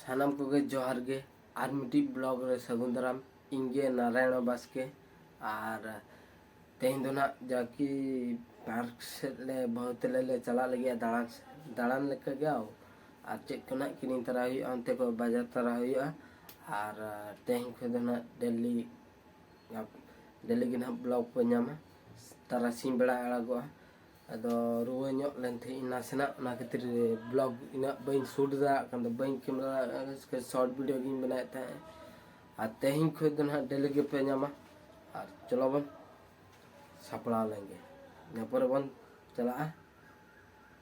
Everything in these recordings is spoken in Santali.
ᱥᱟᱱᱟᱢ ᱠᱚᱜᱮ ᱡᱚᱦᱟᱨ ᱜᱮ ᱟᱨ ᱢᱤᱫᱴᱤᱡ ᱵᱞᱚᱜ ᱨᱮ ᱥᱟᱹᱜᱩᱱ ᱫᱟᱨᱟᱢ ᱤᱧ ᱜᱮ ᱱᱟᱨᱟᱭᱚᱬ ᱵᱟᱥᱠᱮ ᱟᱨ ᱛᱮᱦᱮᱧ ᱫᱚ ᱱᱟᱜ ᱡᱟᱠᱤ ᱯᱟᱨᱠ ᱥᱮᱫ ᱞᱮ ᱵᱟᱹᱦᱩ ᱛᱮᱞᱮ ᱞᱮ ᱪᱟᱞᱟᱜ ᱞᱟᱹᱜᱤᱫ ᱫᱟᱬᱟᱱ ᱫᱟᱬᱟᱱ ᱞᱮᱠᱟ ᱜᱮ ᱟᱨ ᱪᱮᱫ ᱠᱚ ᱱᱟᱜ ᱠᱤᱨᱤᱧ ᱛᱟᱨᱟ ᱦᱩᱭᱩᱜᱼᱟ ᱚᱱᱛᱮ ᱠᱚ ᱵᱟᱡᱟᱨ ᱛᱟᱨᱟ ᱦᱩᱭᱩᱜᱼᱟ ᱟᱨ ᱛᱮᱦᱮᱧ ᱠᱷᱚᱱ ᱫᱚ ᱱᱟᱜ ᱰᱮᱞᱤ ᱰᱮᱞᱤ ᱜᱮ ᱱᱟᱜ ᱵᱞᱚᱜ ᱠᱚ ᱧᱟᱢᱟ ᱛᱟᱨᱟᱥᱤᱧ ᱵᱮᱲᱟ ᱟᱲᱟᱜᱚᱜᱼᱟ ᱟᱫᱚ ᱨᱩᱣᱟᱹ ᱧᱚᱜ ᱞᱮᱱ ᱛᱟᱦᱮᱸᱫ ᱤᱧ ᱱᱟᱥᱮᱱᱟᱜ ᱚᱱᱟ ᱠᱷᱟᱹᱛᱤᱨ ᱵᱞᱚᱜ ᱤᱱᱟᱹᱜ ᱵᱟᱹᱧ ᱥᱩᱴ ᱫᱟᱲᱮᱭᱟᱜ ᱠᱟᱱ ᱛᱟᱦᱮᱸᱫ ᱵᱟᱹᱧ ᱠᱮᱢᱮᱨᱟ ᱥᱚᱨᱴ ᱵᱷᱤᱰᱤᱭᱳ ᱜᱤᱧ ᱵᱮᱱᱟᱣᱮᱫ ᱛᱟᱦᱮᱸᱫ ᱟᱨ ᱛᱮᱦᱮᱧ ᱠᱷᱚᱱ ᱫᱚ ᱱᱟᱦᱟᱜ ᱰᱮᱞᱤ ᱜᱮᱯᱮ ᱧᱟᱢᱟ ᱟᱨ ᱪᱚᱞᱚ ᱵᱚᱱ ᱥᱟᱯᱲᱟᱣ ᱞᱮᱱᱜᱮ ᱤᱱᱟᱹ ᱯᱚᱨᱮ ᱵᱚᱱ ᱪᱟᱞᱟᱜᱼᱟ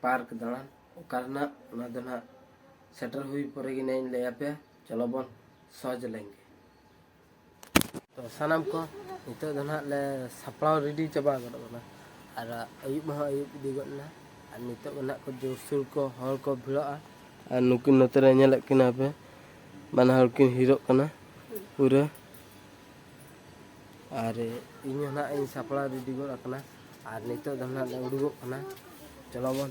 ᱯᱟᱨᱠ ᱫᱟᱬᱟᱱ ᱚᱠᱟ ᱨᱮᱱᱟᱜ ᱚᱱᱟ ᱫᱚ ᱱᱟᱦᱟᱜ ᱥᱮᱴᱮᱨ ᱦᱩᱭ ᱯᱚᱨᱮ ᱜᱮ ᱱᱟᱦᱟᱜ ᱤᱧ ᱞᱟᱹᱭᱟᱯᱮᱭᱟ ᱪᱚᱞᱚ ᱵᱚᱱ ᱥᱚᱦᱚᱡᱽ ᱞᱮᱱᱜᱮ ᱛᱚ ᱥᱟᱱᱟᱢ ᱠᱚ ᱱᱤᱛᱚᱜ ᱫᱚ ᱱᱟᱦᱟᱜ ᱞᱮ ᱥᱟᱯᱲᱟᱣ ᱨᱮᱰᱤ ᱪᱟᱵᱟ ᱜᱚᱫ ᱠᱟᱱᱟ ᱟᱨ ᱟᱹᱭᱩᱵ ᱢᱟ ᱟᱹᱭᱩᱵ ᱤᱫᱤ ᱜᱚᱫ ᱮᱱᱟ ᱟᱨ ᱱᱤᱛᱚᱜ ᱱᱟᱦᱟᱜ ᱠᱚ ᱡᱳᱨᱥᱳᱨ ᱠᱚ ᱦᱚᱲ ᱠᱚ ᱵᱷᱤᱲᱚᱜᱼᱟ ᱟᱨ ᱱᱩᱠᱤᱱ ᱱᱚᱛᱮ ᱨᱮ ᱧᱮᱞᱮᱫ ᱠᱤᱱᱟ ᱯᱮ ᱵᱟᱱᱟ ᱦᱚᱲ ᱠᱤᱱ ᱦᱤᱨᱚᱜ ᱠᱟᱱᱟ ᱯᱩᱨᱟᱹ ᱟᱨ ᱤᱧ ᱦᱚᱸ ᱱᱟᱦᱟᱜ ᱤᱧ ᱥᱟᱯᱲᱟᱣ ᱨᱮᱰᱤ ᱜᱚᱫ ᱟᱠᱟᱱᱟ ᱟᱨ ᱱᱤᱛᱚᱜ ᱫᱚ ᱱᱟᱦᱟᱜ ᱞᱮ ᱩᱰᱩᱠᱚᱜ ᱠᱟᱱᱟ ᱪᱚᱞᱚ ᱵᱚᱱ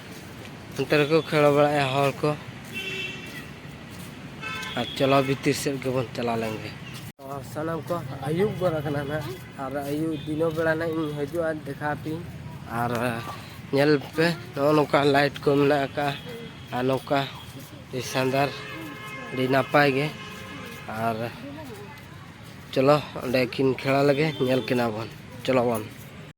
ᱚᱱᱛᱮ ᱨᱮᱠᱚ ᱠᱷᱮᱞ ᱵᱟᱲᱟᱭᱟ ᱦᱚᱲ ᱠᱚ ᱟᱨ ᱪᱟᱞᱟᱣ ᱵᱷᱤᱛᱤᱨ ᱥᱮᱫ ᱜᱮᱵᱚᱱ ᱪᱟᱞᱟᱣ ᱞᱮᱱ ᱜᱮ ᱥᱟᱱᱟᱢ ᱠᱚ ᱟᱹᱭᱩᱵ ᱜᱚᱫ ᱟᱠᱟᱱᱟ ᱱᱟᱜ ᱟᱨ ᱟᱹᱭᱩᱵ ᱫᱤᱱᱚ ᱵᱮᱲᱟ ᱱᱟᱜ ᱤᱧ ᱦᱤᱡᱩᱜᱼᱟ ᱫᱮᱠᱷᱟ ᱟᱯᱮᱧ ᱟᱨ ᱧᱮᱞ ᱯᱮ ᱱᱚᱜᱼᱚ ᱱᱚᱝᱠᱟ ᱞᱟᱭᱤᱴ ᱠᱚ ᱢᱮᱱᱟᱜ ᱟᱠᱟᱫᱼᱟ ᱟᱨ ᱱᱚᱝᱠᱟ ᱥᱟᱱᱫᱟᱨ ᱟᱹᱰᱤ ᱱᱟᱯᱟᱭ ᱜᱮ ᱟᱨ ᱪᱚᱞᱚ ᱚᱸᱰᱮ ᱠᱤᱱ ᱠᱷᱮᱞᱟ ᱞᱮᱜᱮ ᱧᱮᱞ ᱠᱤᱱᱟ ᱵᱚᱱ ᱪᱚᱞᱚ ᱵᱚᱱ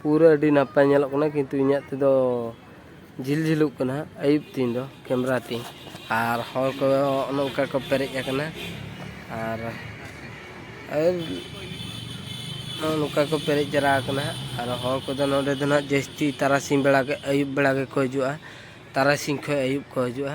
ᱯᱩᱨᱟᱹ ᱟᱹᱰᱤ ᱱᱟᱯᱟᱭ ᱧᱮᱞᱚᱜ ᱠᱟᱱᱟ ᱠᱤᱱᱛᱩ ᱤᱧᱟᱹᱜ ᱛᱮᱫᱚ ᱡᱷᱤᱞ ᱡᱷᱤᱞᱚᱜ ᱠᱟᱱᱟ ᱟᱹᱭᱩᱵ ᱛᱤᱧ ᱫᱚ ᱠᱮᱢᱮᱨᱟ ᱛᱤᱧ ᱟᱨ ᱦᱚᱲ ᱠᱚ ᱱᱚᱝᱠᱟ ᱠᱚ ᱯᱮᱨᱮᱡ ᱟᱠᱟᱱᱟ ᱟᱨ ᱟᱨ ᱱᱚᱜᱼᱚ ᱱᱚᱝᱠᱟ ᱠᱚ ᱯᱮᱨᱮᱡ ᱡᱟᱣᱨᱟ ᱟᱠᱟᱱᱟ ᱟᱨ ᱦᱚᱲ ᱠᱚᱫᱚ ᱱᱚᱰᱮ ᱫᱚ ᱱᱟᱦᱟᱜ ᱡᱟᱹᱥᱛᱤ ᱛᱟᱨᱟᱥᱤᱧ ᱵᱮᱲᱟ ᱜᱮ ᱟᱹᱭᱩᱵ ᱵᱮᱲᱟ ᱜᱮᱠᱚ ᱦᱤᱡᱩᱜᱼᱟ ᱛᱟᱨᱟᱥᱤᱧ ᱠᱷᱚᱱ ᱟᱹᱭᱩᱵ ᱠᱚ ᱦᱤᱡᱩᱜᱼᱟ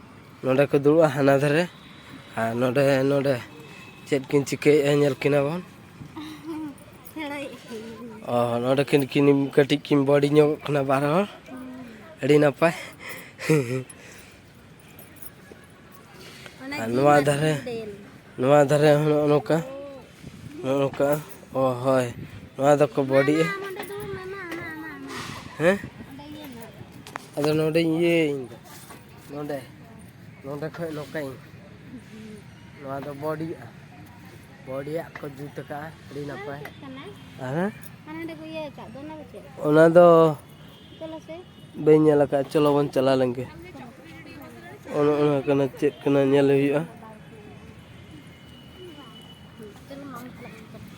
ᱱᱚᱸᱰᱮ ᱠᱚ ᱫᱩᱲᱩᱵᱼᱟ ᱦᱟᱱᱟ ᱫᱷᱟᱨᱮ ᱟᱨ ᱱᱚᱸᱰᱮ ᱱᱚᱸᱰᱮ ᱪᱮᱫ ᱠᱤᱱ ᱪᱤᱠᱟᱹᱭᱮᱫᱼᱟ ᱧᱮᱞ ᱠᱤᱱᱟ ᱵᱚᱱ ᱚ ᱱᱚᱸᱰᱮ ᱠᱤᱱ ᱠᱤᱱ ᱠᱟᱹᱴᱤᱡ ᱠᱤᱱ ᱵᱚᱰᱤ ᱧᱚᱜᱚᱜ ᱠᱟᱱᱟ ᱵᱟᱨ ᱦᱚᱲ ᱟᱹᱰᱤ ᱱᱟᱯᱟᱭ ᱟᱨ ᱱᱚᱣᱟ ᱫᱷᱟᱨᱮ ᱱᱚᱣᱟ ᱫᱷᱟᱨᱮ ᱦᱚᱸ ᱱᱚᱜᱼᱚ ᱱᱚᱝᱠᱟ ᱱᱚᱜᱼᱚ ᱱᱚᱝᱠᱟ ᱚ ᱦᱳᱭ ᱱᱚᱣᱟ ᱫᱚᱠᱚ ᱵᱚᱰᱤᱜᱼᱟ ᱦᱮᱸ ᱟᱫᱚ ᱱᱚᱸᱰᱮᱧ ᱤᱭᱟᱹᱭᱟ ᱤᱧᱫᱚ ᱱᱚᱰᱮ ᱱᱚᱰᱮ ᱠᱷᱚᱡ ᱞᱚᱠᱟᱹᱧ ᱱᱚᱣᱟ ᱫᱚ ᱵᱚᱰᱤᱭᱟ ᱵᱚᱰᱤᱭᱟᱜ ᱠᱚ ᱡᱩᱛ ᱟᱠᱟᱫᱼᱟ ᱟᱹᱰᱤ ᱱᱟᱯᱟᱭ ᱦᱮᱸ ᱚᱱᱟ ᱫᱚ ᱵᱟᱹᱧ ᱧᱮᱞ ᱟᱠᱟᱫ ᱪᱚᱞᱚ ᱵᱚᱱ ᱪᱟᱞᱟᱣ ᱞᱮᱱᱜᱮ ᱚᱱᱟ ᱚᱱᱟ ᱠᱟᱱᱟ ᱪᱮᱫ ᱠᱟᱱᱟ ᱧᱮᱞ ᱦᱩᱭᱩᱜᱼᱟ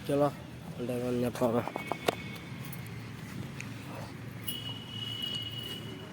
ᱪᱚᱞᱚ ᱚᱸᱰᱮ ᱵᱚᱱ ᱧᱟᱯᱟᱢᱟ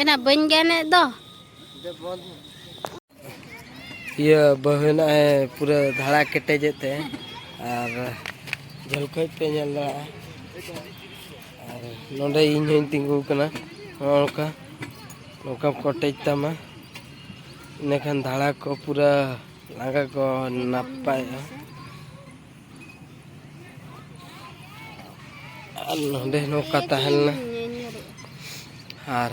ᱮᱱᱟ ᱵᱟᱹᱧ ᱜᱟᱱᱮᱫ ᱫᱚ ᱤᱭᱟᱹ ᱵᱟᱹᱦᱩ ᱱᱚᱜᱼᱚᱭ ᱯᱩᱨᱟᱹ ᱫᱷᱟᱲᱟ ᱠᱮᱴᱮᱡᱮᱫ ᱛᱮ ᱟᱨ ᱡᱷᱟᱹᱞ ᱠᱷᱚᱡ ᱯᱮ ᱧᱮᱞ ᱫᱟᱲᱮᱭᱟᱜᱼᱟ ᱟᱨ ᱱᱚᱰᱮ ᱤᱧ ᱦᱚᱧ ᱛᱤᱸᱜᱩ ᱠᱟᱱᱟ ᱱᱚᱜᱼᱚ ᱱᱚᱝᱠᱟ ᱱᱚᱝᱠᱟᱢ ᱠᱚᱴᱮᱡ ᱛᱟᱢᱟ ᱤᱱᱟᱹᱠᱷᱟᱱ ᱫᱷᱟᱲᱟ ᱠᱚ ᱯᱩᱨᱟᱹ ᱞᱟᱸᱜᱟ ᱠᱚ ᱱᱟᱯᱟᱭᱚᱜᱼᱟ ᱟᱨ ᱱᱚᱰᱮ ᱱᱚᱝᱠᱟ ᱛᱟᱦᱮᱸ ᱞᱮᱱᱟ ᱟᱨ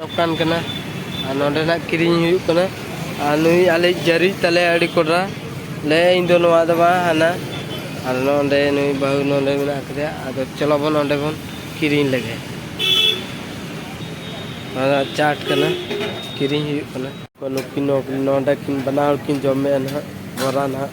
ᱫᱚᱠᱟᱱ ᱠᱟᱱᱟ ᱟᱨ ᱱᱚᱰᱮᱱᱟᱜ ᱠᱤᱨᱤᱧ ᱦᱩᱭᱩᱜ ᱠᱟᱱᱟ ᱟᱨ ᱱᱩᱭ ᱟᱞᱮ ᱡᱟᱹᱨᱤ ᱛᱟᱞᱮ ᱟᱹᱰᱤ ᱠᱚᱰᱨᱟ ᱞᱮ ᱤᱧ ᱫᱚ ᱱᱚᱣᱟ ᱫᱚ ᱵᱟᱝ ᱦᱟᱱᱟ ᱟᱨ ᱱᱚᱰᱮ ᱱᱩᱭ ᱵᱟᱹᱦᱩ ᱱᱚᱰᱮ ᱢᱮᱱᱟᱜ ᱠᱟᱫᱮᱭᱟ ᱟᱫᱚ ᱪᱚᱞᱚ ᱵᱚᱱ ᱚᱸᱰᱮ ᱵᱚᱱ ᱠᱤᱨᱤᱧ ᱞᱮᱜᱮ ᱱᱚᱣᱟ ᱪᱟᱴ ᱠᱟᱱᱟ ᱠᱤᱨᱤᱧ ᱦᱩᱭᱩᱜ ᱠᱟᱱᱟ ᱱᱩᱠᱤᱱ ᱱᱚᱰᱮ ᱠᱤᱱ ᱵᱟᱱᱟ ᱦᱚᱲ ᱠᱤᱱ ᱡᱚᱢᱮᱜᱼᱟ ᱱᱟᱦᱟᱜ ᱵᱚᱨᱟ ᱱᱟᱦᱟᱜ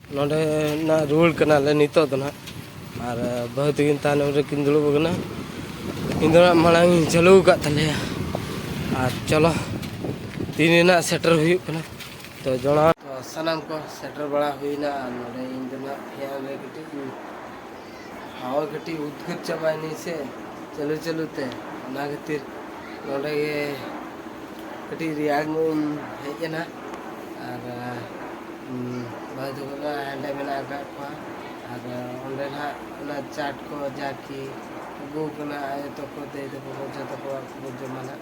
ᱱᱚᱸᱰᱮ ᱱᱟᱜ ᱨᱩᱣᱟᱹᱲ ᱠᱟᱱᱟᱞᱮ ᱱᱤᱛᱚᱜ ᱫᱚ ᱱᱟᱜ ᱟᱨ ᱵᱟᱹᱦᱩ ᱛᱟᱹᱠᱤᱱ ᱛᱟᱭᱱᱚᱢ ᱨᱮᱠᱤᱱ ᱫᱩᱲᱩᱵ ᱟᱠᱟᱱᱟ ᱤᱧ ᱫᱚ ᱱᱟᱜ ᱢᱟᱲᱟᱝ ᱤᱧ ᱪᱟᱹᱞᱩ ᱟᱠᱟᱫ ᱛᱟᱞᱮᱭᱟ ᱟᱨ ᱪᱚᱞᱚ ᱛᱤᱱ ᱨᱮᱱᱟᱜ ᱥᱮᱴᱮᱨ ᱦᱩᱭᱩᱜ ᱠᱟᱱᱟ ᱛᱚ ᱡᱚᱲᱟᱣ ᱥᱟᱱᱟᱢ ᱠᱚ ᱥᱮᱴᱮᱨ ᱵᱟᱲᱟ ᱦᱩᱭᱱᱟ ᱟᱨ ᱱᱚᱸᱰᱮ ᱤᱧ ᱫᱚ ᱱᱟᱜ ᱯᱷᱮᱱ ᱨᱮ ᱠᱟᱹᱴᱤᱡ ᱤᱧ ᱦᱟᱣᱟ ᱠᱟᱹᱴᱤᱡ ᱩᱫᱽᱜᱟᱹᱨ ᱪᱟᱵᱟᱭᱮᱱᱟᱹᱧ ᱥᱮ ᱪᱟᱹᱞᱩ ᱪᱟᱹᱞᱩ ᱛᱮ ᱚᱱᱟ ᱠᱷᱟᱹᱛᱤᱨ ᱱᱚᱰᱮ ᱜᱮ ᱠᱟᱹᱴᱤᱡ ᱨᱮᱭᱟᱲ ᱧᱚᱜ ᱤᱧ ᱦᱮᱡ ᱮᱱᱟ ᱟᱨ ᱵᱷᱟᱹᱭ ᱛᱟᱠᱚ ᱫᱚ ᱦᱟᱸᱰᱮ ᱢᱮᱱᱟᱜ ᱟᱠᱟᱫ ᱠᱚᱣᱟ ᱟᱨ ᱚᱸᱰᱮ ᱱᱟᱦᱟᱜ ᱚᱱᱟ ᱪᱟᱴ ᱠᱚ ᱡᱟᱠᱤ ᱟᱹᱜᱩ ᱠᱟᱱᱟ ᱟᱭᱳ ᱛᱟᱠᱚ ᱫᱟᱹᱭ ᱛᱟᱠᱚ ᱡᱚᱛᱚ ᱠᱚ ᱡᱚᱢᱟ ᱱᱟᱦᱟᱜ